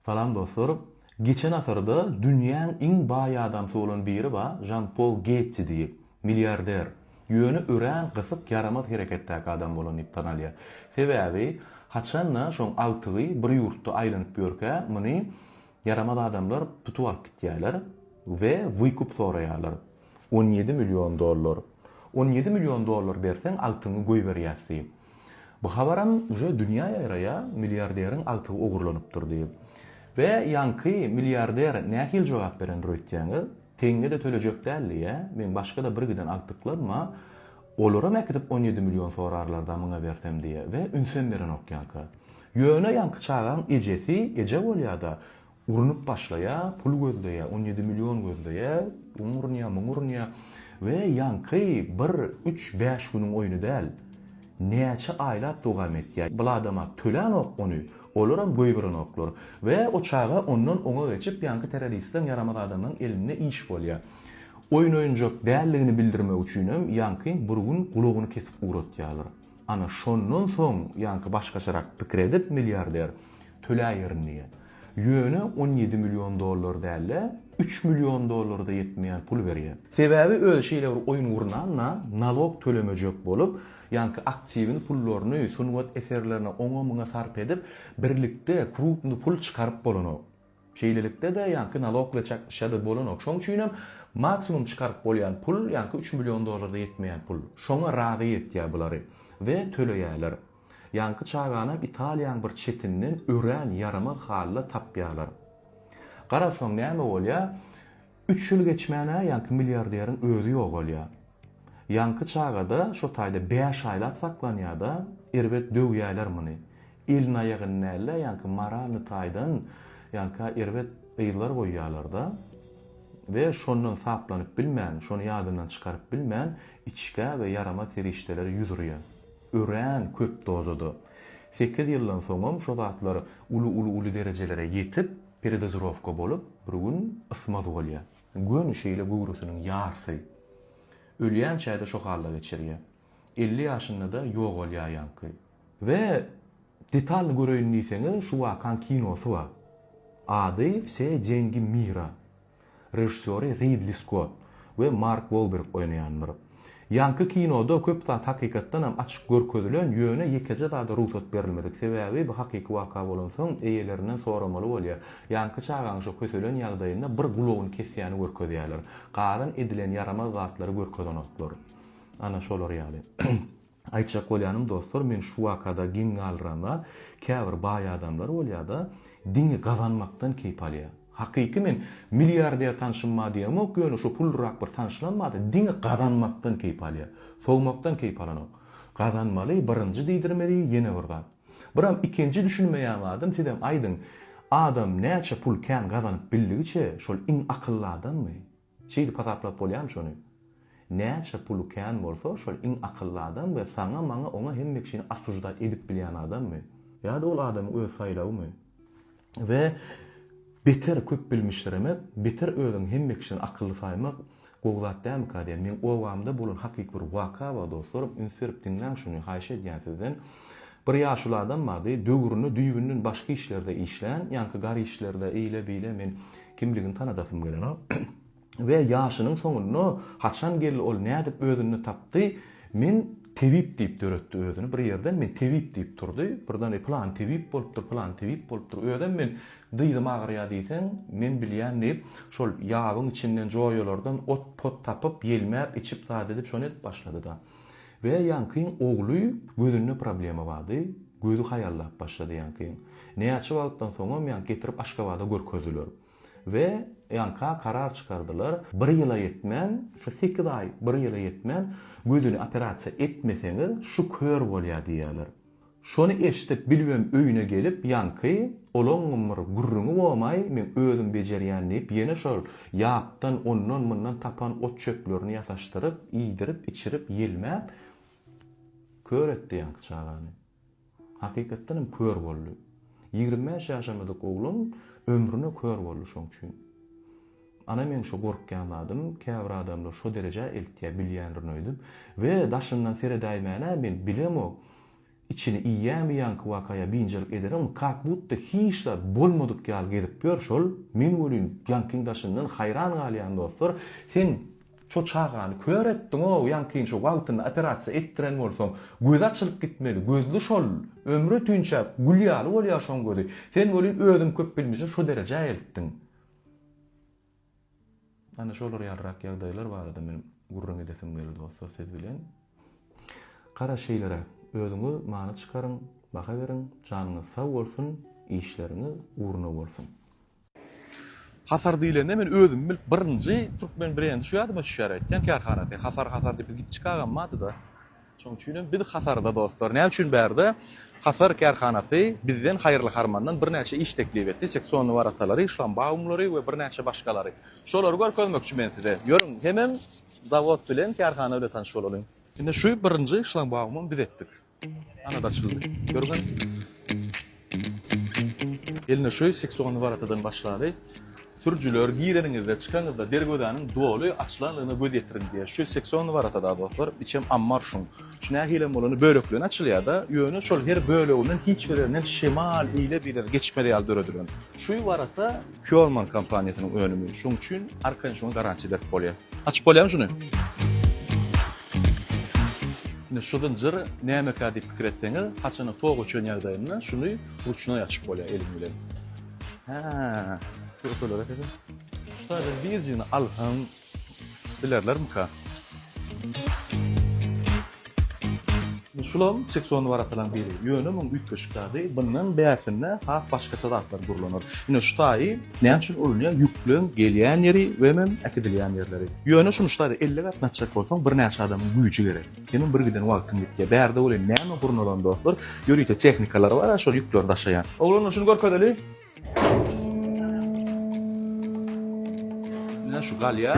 Salam dostlar. Geçen asyrda dünýäň iň baý adamsy bolan biri ba Žan Pol Getji diýip. Milliarder. Ýöne örän gysyk ýaramaz hereketdäki adam bolan diýip tanalýar. Sebäbi haçanda şoň agtygy bir ýurtda aýlanyp ýörkä muny ýaramaz adamlar tutup alyp gitýärler we wykup soraýarlar. On ýedi million dollar. On ýedi million dollar berseň agtyňy goýberýäs diýip. Bu habaram uje dünýä ýaýraýa milliarderiň agtygy ogurlanypdyr diýip. Be ýaňky milliarder nähili jogap berendir öýtýäňiz? Teňňede tölejek däl diýýä. Meň başgada bir giden agtyklaryma olaram äkidip on ýedi million sorarlarda muňa bersem diýýä we ünsem berenok ýaňka. Ýöne ýaňky çagaň ejesi eje bolýada Urunyp başlaýar, pul gözleýär, on ýedi million gözleýär, oň urunýar, muň urunýar we ýaňky bir, üç, bäş günüň oýny däl, näçe aýlap dowam etýär. Bul adama tölänok ony, olaram goýberenoklar we o çaga ondan oňa geçip, ýaňky terroristleň, ýaramaz adamlaň elinde iş bolýar. Oýun-oýunjak däldigini bildirmek üçinem ýaňkyň bir gün gulagyny kesip ugratýarlar. Ana, şondan soň ýaňky başgaçarak pikir edip, milliarder, töläýerin diýýär. Ýöne on ýedi million dollar däl-de, üç million dollara-da ýetmeýän pul berýär. Sebäbi özi şeýle bir oýun gurnanda, nalog tölemejek bolup, ýaňky aktiwini, pullaryny, sungat eserlerine oňa-muňa sarp edip, birlikde krupny pul çykaryp bolanok. Şeýlelikde-de, ýaňky nalog bilen çaknyşýar-da bolanok. Şoň üçinem, maksimum çykaryp bolýan pul, ýaňky üç million dollara-da ýetmeýän pul. Şoňa razy etýär bulary we töleýärler. Ýaňky çaganam Italiýaň bir çetinden örän ýaramaz halda tapýarlar. Garasaň näme bolýar, üç ýyl geçmän-ä ýaňky milliarderiň özi ýogalýar. Ýaňky çaga-da şo taýda bäş aýlap saklanýar-da, erbet döwýärler muny. Elini-aýagyny däl-de, ýaňky moralnyý taýdan ýaňka erbet yzlar goýýarlar-da we şondan saplanyp bilmän, şony ýadyndan çykaryp bilmän, içgä we ýaramaz serişdelere ýüz urýar. Örän köp dozada. Sekiz ýyldan soňam şo zatlar uly uly uly derejelere ýetip, peredozirowka bolup, bir gün ysmaz bolýar. Göni şeýle göwresiniň ýarsy. Ölýänçä-de şo halda geçirýär. Elli ýaşynda-da ýogalýar ýaňky. We detalny göreýin diýseňiz, şu wakaň kinosy bar. Ady Wse dengi mira. Režissýory Ridli Skott we Mark Wolberg oýnaýandyr. Ýaňky kinoda köp zat hakykatdan hem açyk görkezilen, ýöne ýekeje zada rugsat berilmedik. Sebäbi bu hakyky waka bolansoň eýelerinden soramaly bolýar. Ýaňky çagaň şo köselen ýagdaýynda bir gulagyny kesýäni görkezýärler. Galan edilen ýaramaz zatlary görkezenoklar. Ana şolar ýaly. Aýtjak bolýanym dostlar men şu wakada geň galyranda käbir baý adamlar bolýada diňe gazanmakdan keýp alýa. Hakyky men milliarder tanşym bar diýemok ýöne şu pullyrak bir tanşlam bardy diňe gazanmakdan keýp alýa. Sowmakdan keýp alanok. Gazanmaly birinji diýdirmeli ýene bir zat. Biram ikinji düşünmeýän zadym sizem aýdyň adam näçe pul kän gazanyp bildigiçe şol iň akylly adammy? Şeýdip hasaplap bolýamy şony? Näçe puly kän bolsa şol iň akylly adam we saňa maňa oňa hemme kişini osuždat edip bilýän adammy? Ýa-da ol adamyň öz saýlawymy? We beter köp bilmişdiremek, beter özüňi hemme kişiden akylly saýmak gowy zat dälmika diýen meň obamda bolan hakyky bir waka bar dostlarym üns berip diňläň şuny haýyş edýän sizden Bir ýaşuly adam bardy, döwrüni düýbünden başga işlerde işlän, ýaňky gar işlerde, eýle-beýle, men kimligini tanadasym gelenok. We ýaşynyň soňunda, haçan geldi, ol nädip özünde tapdy, men tebip diýip döretdi özüni, bir ýerden men tebip diýip turdy, birden pylany tebip bolupdyr, pylany tebip bolupdyr, özem men dyzym agyrýar diýseň, men bilýän diýip, şol ýabyň içinden, joýalardan ot-pot tapyp, ýelmäp, içip, zat edip, şony edip başlady-da. We Ýankyň ogly gözünde problema bardy, gözi haýallap başlady Ýankyň. Näçe wagtdan soňam Ýanky getirip Aşgabada görkezdiler. We Ýanka karar çykardylar, bir ýyla ýetmän, şu sekiz aý bir ýyla ýetmän gözüni operasiýa etmeseňiz şu kör bolýar diýýärler. Şony eşidip Bilbem öýüne gelip, ýaňky olaňňym bir gürrüňi bomaý, men özüm bejerýän diýip, ýene şol ýapdan, ondan-mundan tapan ot-çöplerini ýasaşdyryp, iýdirip-içirip, ýelmäp, kör etdi ýaňky çagany. Hakykatdan hem kör boldy. Ýigrimi bäş ýaşamadyk oglan ömrüne kör boldy şoň üçin. Ana men şo gorkýan zadym käbir adamlar şo derejä eltýä bilýänrin öýdüp we daşyndan seredäýmänä men bilemok içini iýýämi ýaňky wakaýa biynjalyk ederim kak butda hiç zat bolmadyk ýaly gezip ýör şol men welin ýaňkyň daşyndan haýran galýan dostlar sen şo çagany kör etdiňow ýaňkyny şo wagtynda operasiýa etdiren bolsaň gözi açylyp gitmeli gözli şol ömri tünçäp gül ýaly bolýa şoň gözi sen welin özüň köp bilmejek şo derejä eltdiň. Ana şolar ýalyrak ýagdaýlar barada men gürrüň edesim geldi dostlar siz bilen. Gara şeýleräk özüňiz many çykaryň, baha beriň, janyňyz sag bolsun, işleriňiz ugruna bolsun. Hasar diýlende men özümi bilip birinji türkmen brendi şu ýadyma düşýär aýtýan kärhanasy hasar hasar diýip biz gitjik agam bardyda. Şoň üçin hem biz hasarda dostlar. Näme üçin bärde Hasar kärhanasy bizden haýyrly harmandan birnäçe iş teklip etdi. Seksonly waratalary, şlambaumlary we birnäçe başgalary. Şolary görkezmekçi men size. Ýörüň, hemem zawod bilen, kärhana bilen tanyş bolalyň. Indi şu birinji şlambaumam biz etdik. Ana-da açyldy. Görüňiz. Eline şöý seksiony baratadan başlady. Sürüjiler gireniňizde, çykanyňyzda derwezäniň doly açylanlygyna göz ýetiriň diýýär. Şöý seksiony baratada dostlar, içem ammar şuň. Şu nähilem bolanda bölekleýin açylýada, ýöne şol her böleginden hiç birinden şemal ile-bile geçmez ýaly döredilen. Şuý barata Kjorman kompaniýasynyň önümi, şoň üçin arkaýyn şoňa garantiýa berip bolýar. Açyp bolýamy şuny? Indi şu zynjyr nämekä diýip pikir etseňiz, haçanda tok öçen ýagdaýynda şuny ruçnoý açyp bolýar eliň bilen. Hä. Şu öteler ekeni. Usta, sen birjigini al, hym, Bilerlermika? Şulam seksonly warakalaryň biri. Ýöne muň üýtgeşik zady, bundan bärsinde has başgaça zatlar gurlanar. Ine şu taýy näme üçin ulunýar, ýükleň gelýän ýeri we hemem äkidilýän ýerleri. Ýöne şuny şu taýda elli gatnatjak bolsaň birnäçe adamyň güýji gerek. Hemem bir giden wagtyň gitýär. Bärde welin näme gurnalan dostlar, ýörite tehnikalar bar-a şol ýükleri daşaýan. Oglanlar şuny görkezeli. Ine şu galýa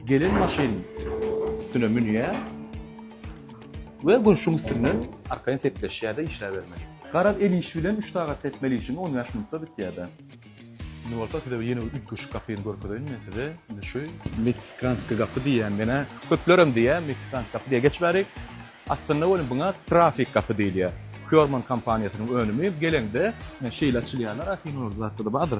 gelen maşyn üstüne münýär we gurşuň üstünden arkaýyn sepleşýär-de işläbermeli. Garaz, el işi bilen üç sagatda etmeli işiňi on bäş minutda bitýär-de. Indi bolsa size ýene bir üýtgeşik gapyny görkezeýin men size. Indi şu meksikanskiý gapy diýýän menä. Köplerem diýýär meksikanskiý gapy diýýär. Geçiberik. Aslynda welin buňa trafik gapy diýilýär. Kýorman kompaniýasynyň önümi geleňde şeýle açylýarlar ahyny ol zatda-da bardyr.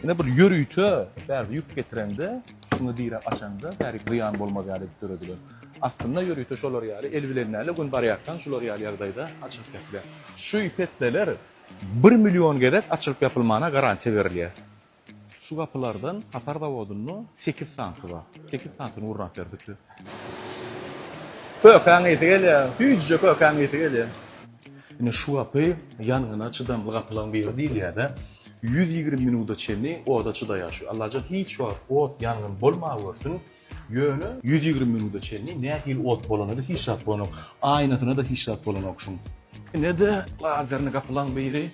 Ine bir ýörite bärde ýük getireňde şuňa direk açaňda bärik zyýan bolmaz ýaly edip döredilen. Aslynda ýörite şolar ýaly el bilen däl-de gün barýarkaň şular ýaly ýagdaýda açylyp ýapylýar. Şu petdeler bir million gezek açylyp ýapylmana garantiýa berilýär. Şu gapylardan Hatary zawodynda sekiz sanysy bar. Sekiz sanysyny gurnap berdikdi. Kökäň ysy gelýär. Süýjüje kökäň ysy gelýär. Ine şu gapy ýangyna çydamly gapylaryň biri diýilýär-de. Ýüz ýigrimi minuda çenli oda çydaýar şu. Allajan hiç wagt ot, ýangyn bolmagörsün. Ýöne ýüz ýigrimi minuda çenli nähili ot bolany-da hiç zat bolanok. Aýnasyna-da hiç zat bolanok şuň. Ine-de lazerni gapylaň biri.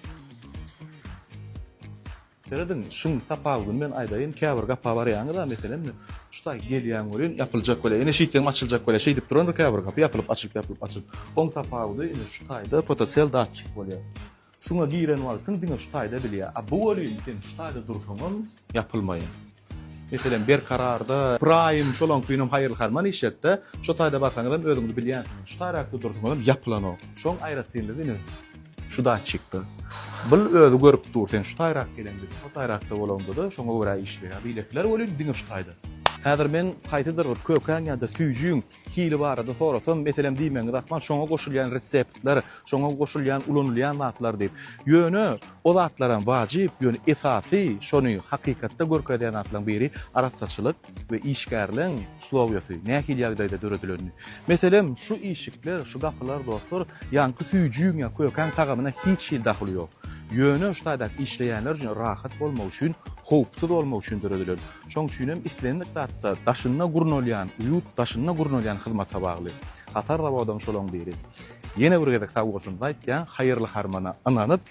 Serediň, şuň tapawudyny men aýdaýyn, käbir gapa barýaňyz-a, meselem, şu taý gelýäň welin, ýapyljak welin, ine şeýtseňem açyljak welin, şeýdip durandyr käbir gapy, ýapylyp açylyp, ýapylyp açylyp. Oň tapawudy, ine şu taýda fotocell datçik bolýar. Şuňa giren wagtyň diňe şu taýda bilýär. A bu welin, sen şu taýda dursaňam, ýapylmaýar. Meselem, Berkararda. Pyraýym, şolaňkynam haýyrly-harman iş et-de, şo taýda barsaňyzam özüňiz bilýänsiňiz. Şu taýraky dursaňyzam ýapylanok. Şoň aýratynlygy ine, şu datçikde. Bul özi görüp dur, sen şu taýrak geleňde-de, şo taýrakda bolaňda-da, şoňa görä işleýär. Beýlekiler welin diňe şu taýda. Häzir men haýsydyr bir kökäň ýa-da süýjüň Hili barada sorasam, meselem diýmegiňiz ahmal, şoňa goşulýan reseptler, şoňa goşulýan ulanylýan zatlar diýip. Ýöne o zatlaram wajyp, ýöne esasy şony hakykatda görkezýän zatlaryň biri arassaçylyk we işgärligiň uslowýasy, nähili ýagdaýda döredilenini. Meselem, şu işikler, şu gapylar dostlar, ýaňky süýjüň ýa kökäň tagamyna hiç hili dahyly ýok. Ýöne şu taýdaky işleýänler üçin rahat bolmagy üçin, howpsuz bolmagy üçin döredilen. Şoň üçin hem islendik zatda daşynda gurnalýan, ýurt daşynda gurnalýan hyzmata bagly. Hatar zawodam şolaň biri. Ýene bir gezek sag bolsunyzy aýtýan, haýyrly harmana ynanyp,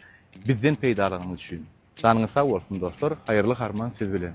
bizden peýdalanyň üçin. Janyňyz sag bolsun dostlar, haýyrly harman siz bilen.